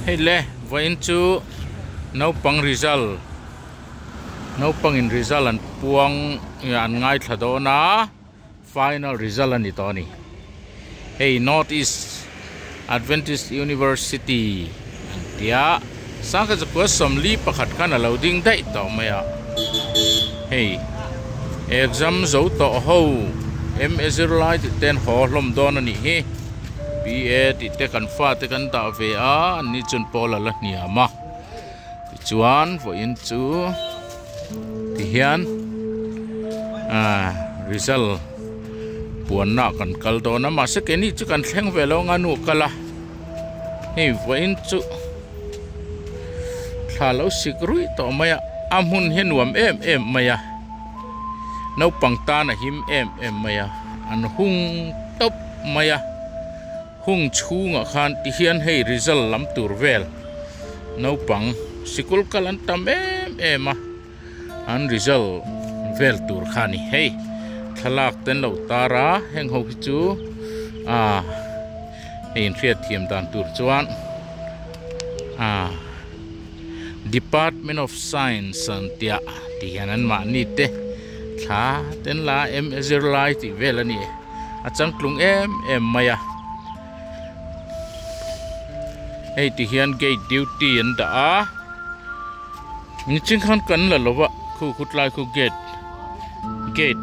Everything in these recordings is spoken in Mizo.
Hei le, vawiin chu naupang result, naupangin result an puang aa an ngaithla dawn a, final result a ni tawh a ni. Hei North East Adventist University an tia sangkhat zakua sawmli pakhat khan alo ding daih tawh mai a hei exam zo tawh ho MA zir lai tih ten haw hlawm dawn anih hi BA tih te kan fa te kan dah ve a an ni chun pawl ala hniam a tichuan vawiin chu. tihian ah result puanna kan kal dawn a mahse keini chu kan thleng ve lo anga nu a kal a hei vawiin chu thla lo sik ruih tawh mai a a hmun hi a nuam em em mai a naupang tan a him em em mai a an hung tawp mai a. Hung chhungah khan tihian hei result lam tur vel naupang sikul kal an tam em em a, an result vel tur kha ni hei thlalak ten lo tar a, heng ho hi chu ah hei in hriat thiam dan tur chuan ah Department of Science an tia tihian an mahni te thla ten la em zirlai tih vel a ni. a changtlung em em mai a hei ti hian gate duty an dah a ni ching khan kan la lo va khu khu tlai khu gate gate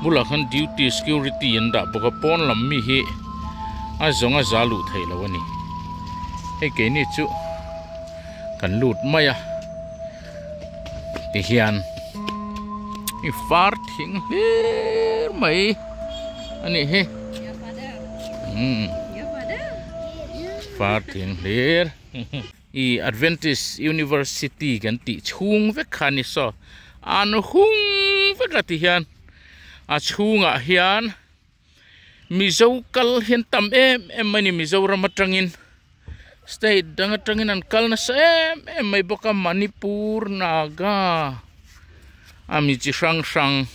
bula khan duty security an dah bawk a pawn lam mi hi a zawng a za luh thei lo a ni hei keini chu kan lut mai a Ti hian i far thing hlir mai a nih hi umm far thing hlir i adventist university kan tih chhung vek kha a ni saw an hung vek a ti hian a chhungah hian. Mizo kal hian tam em em mai a ni Mizoram atangin state dang atangin an kal nasa em em mai bawk a Manipur Naga a mi chi hrang hrang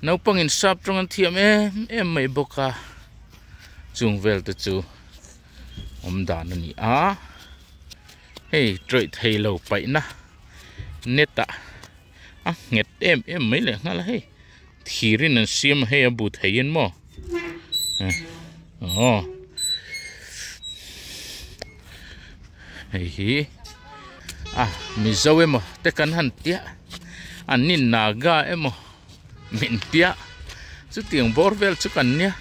naupang in sap tawng an thiam em em mai bawk a chung vel te chu awm dan a ni a hei tawih theilo paihna net ah. a nghet em em mai leh nghal a hei thir in an siam a hei a bu thei in maw aw hei hi a mizo emaw te kan han tia an ni naga emaw min tia chuti ang bawr vel chu kan nia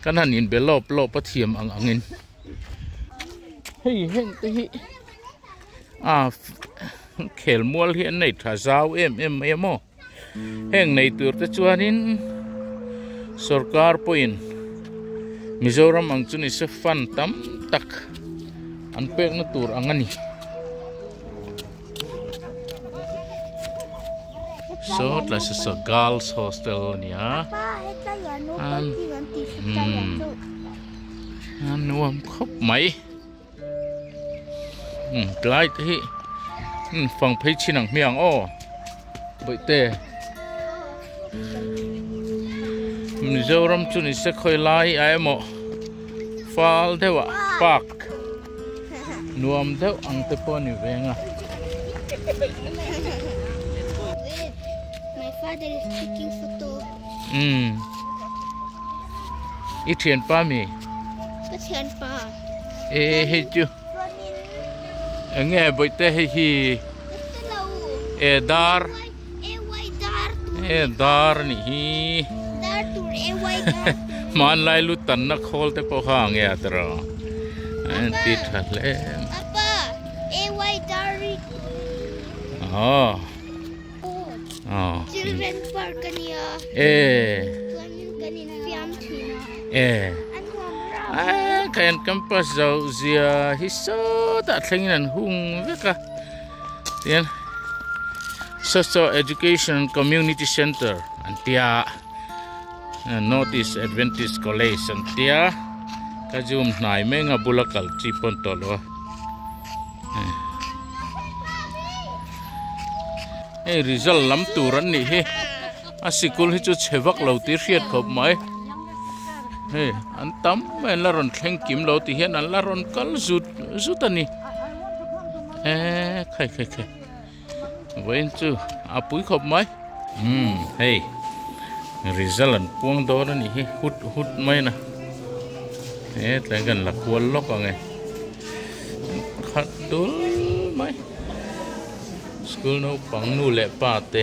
kan han in be lawp lawp a thiam ang ang in hei heng te hi a Khel mual hi an nei tha zau em em mai a maw? Heng nei tur te chuanin sorkar pawhin Mizoram ang chu ni se fund tam tak an pekna tur ang a ni. So tlai se so girls hostel a ni a. An nuam khawp mai. umm tlai te hi umm fang phei chin ang hmiang aw bawihte Mizoram chu ni se khawi lai a emaw fal deuh ah park nuam deuh ang te pawh a ni veng a umm i thianpa mi? Ka thianpa. hei chu eng nge bawihte hei hi e dar e dar a nih hi hmanlai lu tanna khawl te pawh kha nge a tar a an ti tha hle a. Oh. Children park ka ni a. Eh. Kan in fiam thin a. Eh. An nuam rau. Ah, kan campus zo zia hi so ta thleng nan hung vek a. Tian. Social Education Community Center an tia. Eh, Northeast Adventist College an tia. Ka zoom hnai menga bula kal chi pon to lo. hei result lam tur an nih hi a sikul hi chu chhe vak lo tih hriat khawp mai hei an tam mai la rawn thleng kim lo tih hian an la rawn kal zut zut a ni eee khai khai khai. Vawin chu a pui khawp mai. Umm hei result an puang dawn a nih hi hut hut mai na he tlai kan la kual lawk ange khat dul mai school naupang nu leh pa te.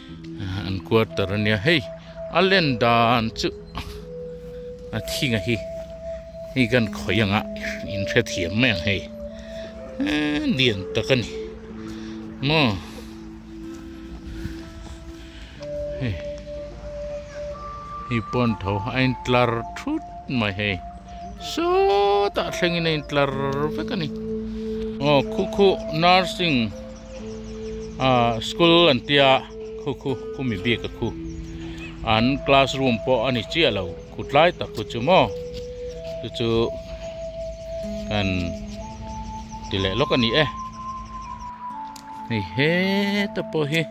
An quarter a nia hei a len dan chu a thinga hi hei kan khawih ang a in hre thiam mai ang hei eee lian tak a ni maw hei hei pawh an tho a in tlar thut mai hei sawtah thlengin a in tlar vek a ni aw khukhuh nursing. ah school an tia khu khu khu mi bik a khu an class room pawh a ni chiah lo kut lai tak kut chu maw chu chu kan ti leh lawk a ni e hei he te pawh hi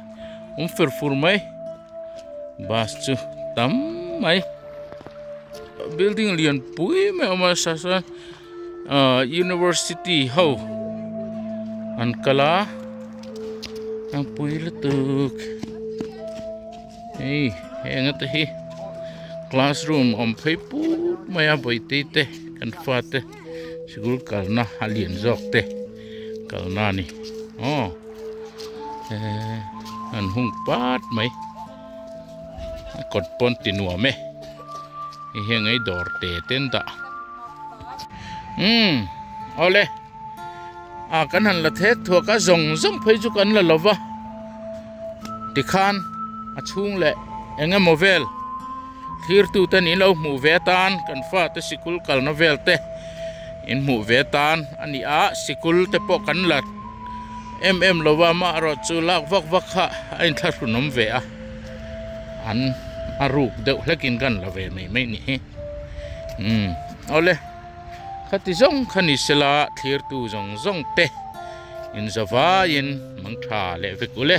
awm fur fur mai bus chu tam mai building lian pui mai a awm a sasai-- ah university ho an kal a tlangpui lutuk hei hei eng ata hi classroom awm phei put mai a bawihte te kan fa te sikul kalna a lian zawk te kalna a ni aw ehh an hung pat mai. a kawt pawn ti nuam e hei hian ngei dawr te te an dah umm awle a kan han la thet thuak a zawng zawng phei chu kan la lo va ti khan a chhung leh eng emaw vel thlir tu ten in lo hmuh ve tan kan fa te sikul kalna vel te in hmuh ve tan a ni a sikul te pawh kan la Em em lo va, mah erawh chu lak vak vak kha a inthlahrunawm ve a, an a ruk deuh hlekin kan la ve mai mai ni hi. Umm, awle, khati zawng kha ni sela thlirtu zawng zawng te inzavaiin mang tha leh vek u le.